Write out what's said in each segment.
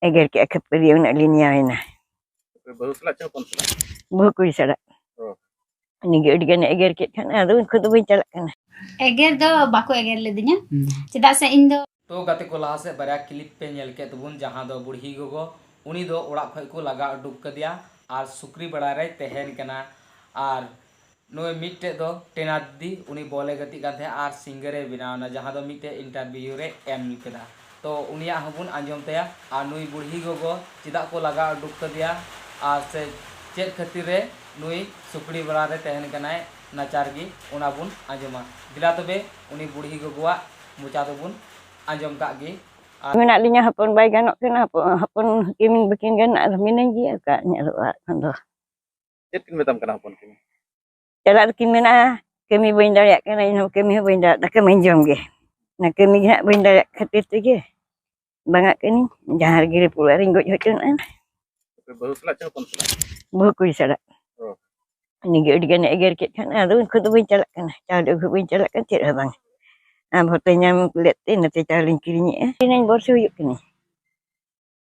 ᱮᱜᱮᱨ ᱠᱮᱫᱼᱟ ᱠᱷᱟᱹᱯᱟᱹᱨᱤ ᱩᱱᱟᱹᱜ ᱞᱤᱧ ᱧᱟᱢᱮᱱᱟ ᱵᱟᱹᱦᱩ ᱥᱟᱞᱟᱜ ᱪᱮ ᱦᱚᱯᱚᱱ ᱥᱟᱞᱟᱜ ᱵᱟᱹᱦᱩ ᱠᱩᱲᱤ ᱥᱟᱞᱟᱜ ᱩᱱᱤᱜᱮ ᱟᱹᱰᱤ ᱜᱟᱱᱮ ᱮᱜᱮᱨ ᱠᱮᱫ ᱠᱷᱟᱱ ᱟᱫᱚ ᱩᱱᱠᱩ ᱫᱚ ᱵᱟᱹᱧ ᱪᱟᱞᱟᱜ ᱠᱟᱱᱟ ᱮᱜᱮᱨ ᱫᱚ ᱵᱟᱠᱚ ᱮᱜᱮᱨ ᱞᱮᱫᱤᱧᱟ ᱪᱮᱫᱟᱜ ᱥᱮ ᱤᱧ ᱫᱚ ᱛᱚ ᱜᱟᱛᱮ ᱠᱚ ᱞᱟᱦᱟ ᱥᱮᱫ ᱵᱟᱨᱭᱟ ᱠᱞᱤᱯ ᱯᱮ ᱧᱮᱞ ᱠᱮᱫ ᱛᱟᱵᱚᱱ ᱡᱟᱦᱟᱸ ᱫᱚ ᱵᱩᱲᱦᱤ ᱜᱚᱜᱚ ᱩᱱᱤ ᱫᱚ ᱚᱲᱟᱜ ᱠᱷᱚᱱ ᱠᱚ ᱞᱟᱜᱟ ᱩᱰᱩᱠ ᱠᱟᱫᱮᱭᱟ ᱟᱨ ᱥᱩᱠᱨᱤ ᱵᱟᱲᱟ ᱨᱮᱭ ᱛᱟᱦᱮᱱ ᱠᱟᱱᱟ ᱟᱨ ᱱᱩᱭ ᱢᱤᱫᱴᱮᱡ ᱫᱚ ᱴᱮᱱᱟᱫᱽᱫᱤ ᱩᱱᱤ ᱵᱚᱞ ᱮ ᱜᱟᱛᱮᱜ ᱠᱟᱱ ᱛᱟᱦᱮᱸᱫ ᱟᱨ ᱥᱤᱝᱜᱟᱨ ᱮ ᱵᱮᱱᱟᱣ ᱮᱱᱟ ᱡᱟᱦᱟᱸ ᱫᱚ ᱢᱤᱫᱴᱮᱡ ᱤᱱᱴᱟᱨᱵᱤᱭᱩ ᱨᱮ ᱮᱢ ᱠᱮᱫᱟ ᱛᱚ ᱩᱱᱤᱭᱟᱜ ᱦᱚᱸ ᱵᱚᱱ ᱟᱸᱡᱚᱢ ᱛᱟᱭᱟ ᱟᱨ ᱱᱩᱭ ᱵᱩᱲᱦᱤ ᱜᱚᱜᱚ ᱪᱮᱫᱟᱜ ᱠᱚ ᱞᱟᱜᱟ ᱩᱰᱩᱠ ᱠᱟᱫᱮᱭᱟ ᱟᱨ ᱥᱮ ᱪᱮᱫ ᱠᱷᱟᱹᱛᱤᱨ ᱨᱮ ᱱᱩᱭ ᱥᱩᱠᱲᱤ ᱵᱟᱲᱟ ᱨᱮ ᱛᱟᱦᱮᱱ ᱠᱟᱱᱟᱭ ᱱᱟᱪᱟᱨ ᱜᱮ ᱚᱱᱟ ᱵᱚᱱ ᱟᱸᱡᱚᱢᱟ ᱫᱮᱞᱟ ᱛᱚᱵᱮ ᱩᱱᱤ ᱵᱩᱲᱦᱤ ᱜᱚᱜᱚᱣᱟᱜ ᱢᱚᱪᱟ ᱫᱚ ᱵᱚᱱ ᱟᱸᱡᱚᱢ ᱠᱟᱜ ᱜᱮ ᱟᱨ ᱢᱮᱱᱟᱜ ᱞᱤᱧᱟ ᱦᱚᱯᱚᱱ ᱵᱟᱭ ᱜᱟᱱᱚᱜ ᱠᱟᱱᱟ ᱦᱚᱯᱚᱱ ᱦᱚᱯᱚᱱ ᱦᱟᱹᱠᱤᱱ ᱵᱟᱹᱠᱤᱱ ᱜᱟᱱᱚᱜ ᱟᱨ ᱢᱤᱱᱟᱹᱧ ᱜᱮᱭᱟ ᱚᱠᱟ ᱧᱮᱞᱚᱜᱼᱟ ᱮᱠᱷᱚᱱ ᱫᱚ᱾ ᱪᱮᱫ ᱠᱤᱱ ᱢᱮᱛᱟᱢ ᱠᱟᱱᱟ ᱦᱚᱯᱚᱱ ᱠᱤᱱ ᱪᱟᱞᱟᱜ ᱫᱚᱠᱤᱱ ᱢᱮᱱᱟ ᱠᱟᱹᱢᱤ ᱵᱟᱹᱧ ᱫᱟᱲᱮᱭᱟᱜ ᱠᱟᱱᱟ ᱤᱧ ᱦᱚᱸ ᱠᱟᱹᱢᱤ ᱦᱚᱸ ᱵᱟᱹᱧ ᱫᱟᱲᱮᱭᱟᱜ ᱫᱟᱠᱟ ᱢᱟᱹᱧ ᱡᱚᱢ ᱜᱮ ᱚᱱᱟ ᱠᱟᱹᱢᱤ ᱜᱮ ᱦᱟᱸᱜ ᱵᱟᱹᱧ ᱫᱟᱲᱮᱭᱟᱜ ᱠᱷᱟᱹᱛᱤᱨ ᱛᱮᱜᱮ ᱵᱟᱝᱟᱜ ᱠᱟᱹᱱᱟᱹᱧ ᱡᱟᱦᱟᱸ ᱨᱮᱜᱮ ᱨᱮᱯᱩ ᱚᱲᱟᱜ ᱨᱤᱧ ᱜᱚᱡ ᱦᱚᱪᱚᱱᱟ ᱵᱟᱹᱦᱩ ᱥᱟᱞᱟᱜ ᱪᱮ ᱦᱚᱯᱚᱱ ᱥᱟᱞᱟᱜ ᱵᱟᱹᱦᱩ ᱠᱩᱲᱤ ᱥᱟᱞᱟᱜ ᱩᱱᱤᱜᱮ ᱟᱹᱰᱤ ᱜᱟᱱᱮ ᱮᱜᱮᱨ ᱠᱮᱫ ᱠᱷᱟᱱ ᱟᱫᱚ ᱩᱱᱠᱩ ᱫᱚ ᱵᱟᱹᱧ ᱪᱟᱞᱟᱜ ᱠᱟᱱᱟ ᱪᱟᱣᱞᱮ ᱟᱹᱜᱩ ᱵᱟᱹᱧ ᱪᱟᱞᱟᱜ ᱠᱟᱱᱟ ᱪᱮᱫ ᱦᱚᱸ ᱵᱟᱝ ᱟᱢ ᱦᱚᱸᱛᱚ ᱧᱟᱢ ᱞᱮᱫ ᱛᱮ ᱤᱱᱟᱹᱛᱮ ᱪᱟᱣᱞᱮᱧ ᱠᱤᱨᱤᱧᱮᱜᱼᱟ ᱤᱱᱟᱹᱧ ᱵᱚᱨᱥᱮ ᱦᱩᱭᱩᱜ ᱠᱟᱱᱟ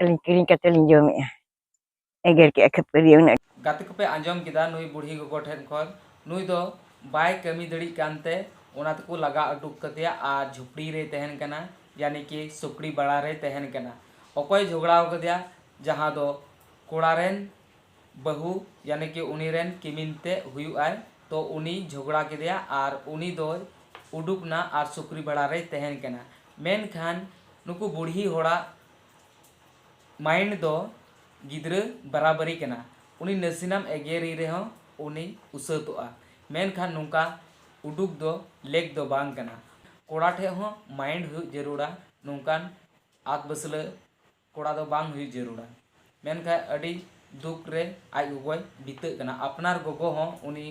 ᱟᱹᱞᱤᱧ ᱠᱤᱨᱤᱧ ᱠᱟᱛᱮ ᱞᱤᱧ ᱡᱚᱢᱮᱜᱼᱟ ᱮᱜᱮᱨ ᱠᱮᱜᱼᱟ ᱠᱷᱟᱹᱯᱟᱹᱨᱤ ᱩᱱᱟᱹᱜ ᱜᱟᱛᱮ ᱠᱚᱯᱮ ᱟᱸᱡᱚᱢ ᱠᱮᱫᱟ ᱱᱩᱭ ᱵᱩᱲᱦᱤ ᱜᱚᱜᱚ ᱴᱷᱮᱱ ᱠᱷᱚᱱ ᱱᱩᱭ ᱫᱚ ᱵᱟᱭ ᱠᱟᱹᱢᱤ ᱫᱟᱲᱮᱜ ᱠᱟᱱᱛᱮ ᱚᱱᱟ ᱛᱮᱠᱚ ᱞᱟᱜᱟ ᱩᱰᱩᱠ ᱠᱟᱫᱮᱭᱟ ᱟᱨ ᱡᱷᱩᱯᱲᱤ ᱨᱮᱭ ᱛᱟᱦᱮᱱ ᱠᱟᱱᱟ ᱭᱟᱱᱤ ᱠᱤ ᱥᱩᱠᱲᱤ ᱵᱟᱲᱟ ᱨᱮᱭ ᱛᱟᱦᱮᱱ ᱠᱟᱱᱟ ᱚᱠᱚᱭ ᱡᱷᱚᱜᱽᱲᱟ ᱟᱠᱟᱫᱮᱭᱟ ᱡᱟᱦᱟᱸ ᱫᱚ ᱠᱚᱲᱟ ᱨᱮᱱ ᱵᱟᱹᱦᱩ ᱭᱟᱱᱤ ᱠᱤ ᱩᱱᱤ ᱨᱮᱱ ᱠᱤᱢᱤᱱ ᱛᱮ ᱦᱩᱭᱩᱜ ᱟᱭ ᱛᱚ ᱩᱱᱤ ᱡᱷᱚᱜᱽᱲᱟ ᱠᱮᱫᱮᱭᱟ ᱟᱨ ᱩᱱᱤ ᱫᱚᱭ ᱩᱰᱩᱠ ᱮᱱᱟ ᱟᱨ ᱥᱩᱠᱨᱤ ᱵᱟᱲᱟ ᱨᱮᱭ ᱛᱟᱦᱮᱱ ᱠᱟᱱᱟ ᱢᱮᱱᱠᱷᱟᱱ ᱱᱩᱠᱩ ᱵᱩᱲᱦᱤ ᱦᱚᱲᱟᱜ ᱢᱟᱭᱤᱱᱰ ᱫᱚ ᱜᱤᱫᱽᱨᱟᱹ ᱵᱟᱨᱟᱵᱟᱹᱨᱤ ᱠᱟᱱᱟ᱾ ᱩᱱᱤ ᱱᱟᱥᱮᱱᱟᱢ ᱮᱜᱮᱨᱮ ᱨᱮᱦᱚᱸ ᱩᱱᱤᱭ ᱩᱥᱟᱹᱛᱚᱜᱼᱟ᱾ ᱢᱮᱱᱠᱷᱟᱱ ᱱᱚᱝᱠᱟ ᱩᱰᱩᱠ ᱫᱚ ᱞᱮᱠ ᱫᱚ ᱵᱟᱝ ᱠᱟᱱᱟ᱾ ᱠᱚᱲᱟ ᱴᱷᱮᱡ ᱦᱚᱸ ᱢᱟᱭᱤᱱᱰ ᱦᱩᱭᱩᱜ ᱡᱟᱹᱨᱩᱲᱟ᱾ ᱱᱚᱝᱠᱟᱱ ᱟᱫᱽᱵᱟᱹᱥᱞᱟᱹ ᱠᱚᱲᱟ ᱫᱚ ᱵᱟᱝ ᱦᱩᱭᱩᱜ ᱡᱟᱹᱨᱩᱲᱟ᱾ ᱢᱮᱱᱠᱷᱟᱡ ᱟᱹᱰᱤ ᱫᱩᱠ ᱨᱮ ᱟᱡ ᱜᱚᱜᱚᱭ ᱵᱤᱛᱟᱹᱜ ᱠᱟᱱᱟ᱾ ᱟᱯᱱᱟᱨ ᱜᱚᱜᱚ ᱦᱚᱸ ᱩᱱᱤ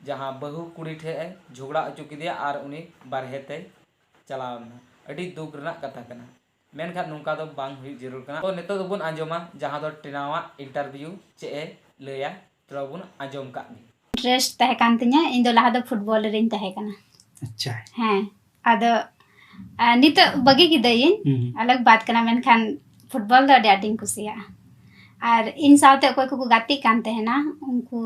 ᱡᱟᱦᱟᱸ ᱵᱟᱹᱦᱩ ᱠᱩᱲᱤ ᱴᱷᱮᱡ ᱮ ᱡᱷᱚᱜᱽᱲᱟ ᱚᱪᱚ ᱠᱮᱫᱮᱭᱟ ᱟᱨ ᱩᱱᱤ ᱵᱟᱨᱦᱮ ᱛᱮᱭ ᱪᱟᱞᱟᱣ ᱞᱮᱱᱟ᱾ ᱟᱹᱰᱤ ᱫᱩᱠ ᱨᱮᱱᱟᱜ ᱠᱟᱛᱷᱟ ᱠᱟᱱᱟ᱾ ᱢᱮᱱᱠᱷᱟᱱ ᱱᱚᱝᱠᱟ ᱫᱚ ᱵᱟᱝ ᱦᱩᱭᱩᱜ ᱡᱟᱹᱨᱩᱲ ᱠᱟᱱᱟ᱾ ᱛᱚ ᱱᱤᱛᱚᱜ ᱫᱚᱵᱚᱱ ᱟᱸᱡᱚᱢᱟ ᱡᱟᱦᱟᱸ ᱫᱚ ᱴᱨᱤᱱᱟ ᱟᱜ ᱤᱱᱴᱟᱨᱵᱷᱤᱭᱩ ᱪᱮᱫ ᱮ ᱞᱟᱹᱭᱟ ᱪᱚᱞᱚ ᱵᱚᱱ ᱟᱸᱡᱚᱢ ᱠᱟᱜ ᱜᱮ᱾ ᱤᱱᱴᱨᱮᱥᱴ ᱛᱟᱦᱮᱸ ᱠᱟᱱ ᱛᱤᱧᱟᱹ ᱤᱧ ᱫᱚ ᱞᱟᱦᱟ ᱫᱚ ᱯᱷᱩᱴᱵᱚᱞ ᱨᱮᱧ ᱛᱟᱦᱮᱸ ᱠᱟᱱᱟ᱾ ᱟᱪᱪᱷᱟ᱾ ᱦᱮᱸ ᱟᱫᱚ ᱱᱤᱛᱚᱜ ᱵᱟᱹᱜᱤ ᱠᱤᱫᱟᱹᱧ ᱟᱞᱟᱜᱽ ᱵᱟᱛ ᱠᱟᱱᱟ ᱢᱮᱱᱠᱷᱟᱱ ᱯᱷᱩᱴᱵᱚᱞ ᱫᱚ ᱟᱹᱰᱤ ᱟᱸᱴᱤᱧ ᱠᱩᱥᱤᱭᱟᱜᱼᱟ ᱟᱨ ᱤᱧ ᱥᱟᱶᱛᱮ ᱚᱠᱚᱭ ᱠᱚᱠᱚ ᱜᱟᱛᱮᱜ ᱠᱟᱱ ᱛᱟᱦᱮᱱᱟ ᱩᱱᱠᱩ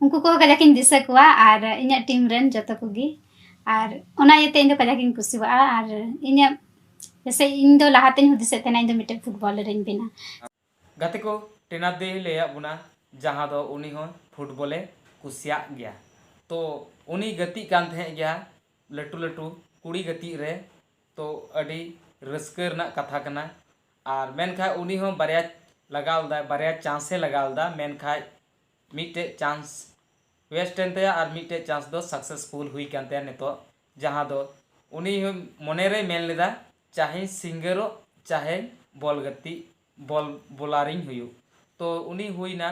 ᱩᱱᱠᱩ ᱠᱚ ᱠᱟᱡᱟᱠ ᱤᱧ ᱫᱤᱥᱟᱹ ᱠᱚᱣᱟ ᱟᱨ ᱤᱧᱟᱹᱜ ᱴᱤᱢ ᱨᱮᱱ ᱡᱚᱛᱚ ᱠᱚᱜᱮ ᱟᱨ ᱚᱱᱟ ᱤᱭᱟᱹᱛᱮ ᱤᱧ ᱫᱚ ᱠᱟᱡᱟᱠ ᱤᱧ ᱠᱩᱥᱤᱣᱟᱜᱼᱟ ᱟᱨ ᱤᱧᱟᱹᱜ ᱡᱮᱥᱮ ᱤᱧ ᱫᱚ ᱞᱟᱦᱟ ᱛᱮᱧ ᱦᱩᱫᱤᱥᱮᱫ ᱛᱟᱦᱮᱱᱟ ᱤᱧ ᱫᱚ ᱢᱤᱫᱴᱮᱱ ᱯᱷᱩᱴᱵᱚᱞᱟᱨ ᱤᱧ ᱵᱮᱱᱟ ᱜᱟᱛᱮ ᱠᱚ ᱴᱮᱱᱟᱨ ᱫᱮ ᱞᱟᱹᱭᱟᱫ ᱵᱚᱱᱟ ᱡᱟᱦᱟᱸ ᱫᱚ ᱩᱱᱤ ᱦᱚᱸ ᱯᱷᱩᱴᱵᱚᱞᱮ ᱠᱩᱥᱤᱭᱟᱜ ᱜᱮᱭᱟ ᱛᱚ ᱩᱱᱤ ᱜᱟᱛᱮᱜ ᱠᱟᱱ ᱛᱟᱦᱮᱸᱫ ᱜᱮᱭᱟ ᱞᱟᱹᱴᱩ ᱞᱟᱹᱴᱩ ᱠᱩᱲᱤ ᱜᱟᱛᱮᱜ ᱨᱮ ᱛᱚ ᱟᱹᱰᱤ ᱨᱟᱹᱥᱠᱟᱹ ᱨᱮᱱᱟᱜ ᱠᱟᱛᱷᱟ ᱠᱟᱱᱟ ᱟᱨ ᱢᱮᱱᱠᱷᱟᱡ ᱩᱱᱤ ᱦᱚᱸ ᱵᱟᱨᱭᱟ ᱞᱟᱜᱟᱣ ᱞᱮᱫᱟᱭ ᱵᱟᱨᱭᱟ ᱪᱟᱱᱥ ᱮ ᱞᱟᱜᱟᱣ ᱞᱮᱫᱟ ᱢᱮᱱᱠᱷᱟᱡ ᱢᱤᱫᱴᱮᱡ ᱪᱟᱱᱥ ᱣᱮᱥᱴ ᱮᱱ ᱛᱟᱭᱟ ᱟᱨ ᱢᱤᱫᱴᱮᱡ ᱪᱟᱱᱥ ᱫᱚ ᱥᱟᱠᱥᱮᱥᱯᱷᱩᱞ ᱦᱩᱭ ᱟᱠᱟᱱ ᱛᱟᱭᱟ ᱱᱤᱛᱚᱜ ᱡᱟᱦᱟᱸ ᱫᱚ ᱩᱱᱤ ᱦᱚᱸ ᱢᱚᱱᱮ ᱨᱮᱭ ᱢᱮᱱ ᱞᱮᱫᱟ ᱪᱟᱦᱮᱧ ᱥᱤᱝᱜᱟᱨᱚᱜ ᱪᱟᱦᱮᱧ ᱵᱚᱞ ᱜᱟᱛᱮᱜ ᱵᱚᱞ ᱵᱚᱞᱟᱨ ᱤᱧ ᱦᱩᱭᱩᱜ ᱛᱚ ᱩᱱᱤ ᱦᱩᱭ ᱮᱱᱟ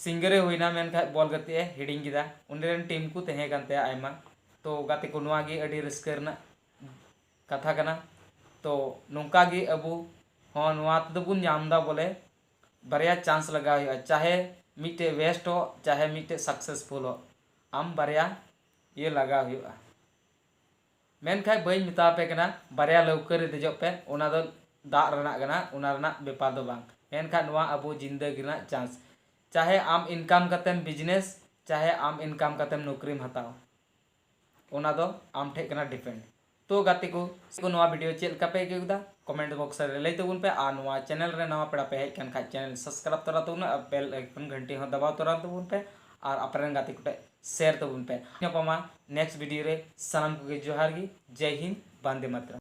ᱥᱤᱝᱜᱟᱨ ᱮ ᱦᱩᱭ ᱮᱱᱟ ᱢᱮᱱᱠᱷᱟᱡ ᱵᱚᱞ ᱜᱟᱛᱮᱜ ᱮ ᱦᱤᱲᱤᱧ ᱠᱮᱫᱟ ᱩᱱᱤ ᱨᱮᱱ ᱴᱤᱢ ᱠᱚ ᱛᱟᱦᱮᱸ ᱠᱟᱱ ᱛᱟᱭᱟ ᱟᱭᱢᱟ ᱛᱚ ᱜᱟᱛᱮ ᱠᱚ ᱱᱚᱣᱟ ᱜᱮ ᱟᱹᱰᱤ ᱨᱟᱹᱥᱠᱟᱹ ᱨᱮᱱᱟᱜ ᱠᱟᱛᱷᱟ ᱠᱟᱱᱟ ᱛᱚ ᱱᱚᱝᱠᱟ ᱜᱮ ᱟᱵᱚ ᱦᱚᱸ ᱱᱚᱣᱟ ᱛᱮᱫᱚ ᱵᱚᱱ ᱧᱟᱢ ᱮᱫᱟ ᱵᱚᱞᱮ ᱵᱟᱨᱭᱟ ᱪᱟᱱᱥ ᱞᱟᱜᱟᱣ ᱦᱩᱭᱩᱜᱼᱟ ᱪᱟᱦᱮ ᱢᱤᱫᱴᱮᱱ ᱣᱮᱥᱴ ᱦᱚᱜ ᱪᱟᱦᱮ ᱢᱤᱫᱴᱮᱱ ᱥᱟᱠᱥᱮᱥᱯᱷᱩᱞ ᱦᱚᱜ ᱟᱢ ᱵᱟᱨᱭᱟ ᱤᱭᱟᱹ ᱞᱟᱜᱟᱣ ᱦᱩᱭᱩᱜᱼᱟ ᱢᱮᱱᱠᱷᱟᱱ ᱵᱟᱹᱧ ᱢᱮᱛᱟ ᱟᱯᱮ ᱠᱟᱱᱟ ᱵᱟᱨᱭᱟ ᱞᱟᱹᱣᱠᱟᱹ ᱨᱮ ᱫᱮᱡᱚᱜ ᱯᱮ ᱚᱱᱟ ᱫᱚ ᱫᱟᱜ ᱨᱮᱱᱟᱜ ᱠᱟᱱᱟ ᱚᱱᱟ ᱨᱮᱱᱟᱜ ᱵᱮᱯᱟᱨ ᱫᱚ ᱵᱟᱝ ᱢᱮᱱᱠᱷᱟᱱ ᱱᱚᱣᱟ ᱟᱵᱚ ᱡᱤᱱᱫᱟᱹᱜᱤ ᱨᱮᱱᱟᱜ ᱪᱟᱱᱥ ᱪᱟᱦᱮ ᱟᱢ ᱤᱱᱠᱟᱢ ᱠᱟᱛᱮᱢ ᱵᱤᱡᱽᱱᱮᱥ ᱪᱟᱦᱮ ᱟᱢ ᱤᱱᱠᱟᱢ ᱠᱟᱛᱮᱢ ᱱᱚᱠᱨᱤᱢ ᱦᱟᱛᱟᱣ ᱚᱱᱟ ᱫᱚ ᱟᱢ ᱴᱷᱮᱡ ᱠᱟᱱᱟ ᱰᱤᱯᱮᱱᱰ᱾ ᱛᱳ ᱜᱟᱛᱮ ᱠᱚ ᱱᱚᱣᱟ ᱵᱷᱤᱰᱤᱭᱳ ᱪᱮᱫ ᱞᱮᱠᱟ ᱯᱮ ᱟᱹᱭᱠᱟᱹᱣ ᱠᱮᱫᱟ ᱠᱚᱢᱮᱱᱴ ᱵᱚᱠᱥ ᱨᱮ ᱞᱟᱹᱭ ᱛᱟᱵᱚᱱ ᱯᱮ ᱟᱨ ᱱᱚᱣᱟ ᱪᱮᱱᱮᱞ ᱨᱮ ᱱᱟᱣᱟ ᱯᱮᱲᱟ ᱯᱮ ᱦᱮᱡ ᱠᱟᱱ ᱠᱷᱟᱡ ᱪᱮᱱᱮᱞ ᱥᱟᱵᱥᱠᱨᱟᱭᱤᱵ ᱛᱚᱨᱟ ᱛᱟᱵᱚᱱ ᱯᱮ ᱟᱨ ᱵᱮᱞ ᱟᱭᱠᱚᱱ ᱜᱷᱟᱱᱴᱤ ᱦᱚᱸ ᱫᱟᱵᱟᱣ ᱛᱚᱨᱟ ᱛᱟᱵᱚᱱ ᱯᱮ ᱟᱨ ᱟᱯᱮ ᱨᱮᱱ ᱜᱟᱛᱮ ᱠᱚᱴᱷᱮᱡ ᱥᱮᱭᱟᱨ ᱛᱟᱵᱚᱱ ᱯᱮ᱾ ᱧᱟᱯᱟᱢᱟ ᱱᱮᱠᱥᱴ ᱵᱷᱤᱰᱤᱭᱳ ᱨᱮ ᱥᱟᱱᱟᱢ ᱠᱚᱜᱮ ᱡᱚᱦᱟᱨ ᱜᱮ ᱡᱟᱭ ᱦᱤᱱᱫ ᱵᱟᱱᱫᱮ ᱢᱟᱛᱨᱚᱢ᱾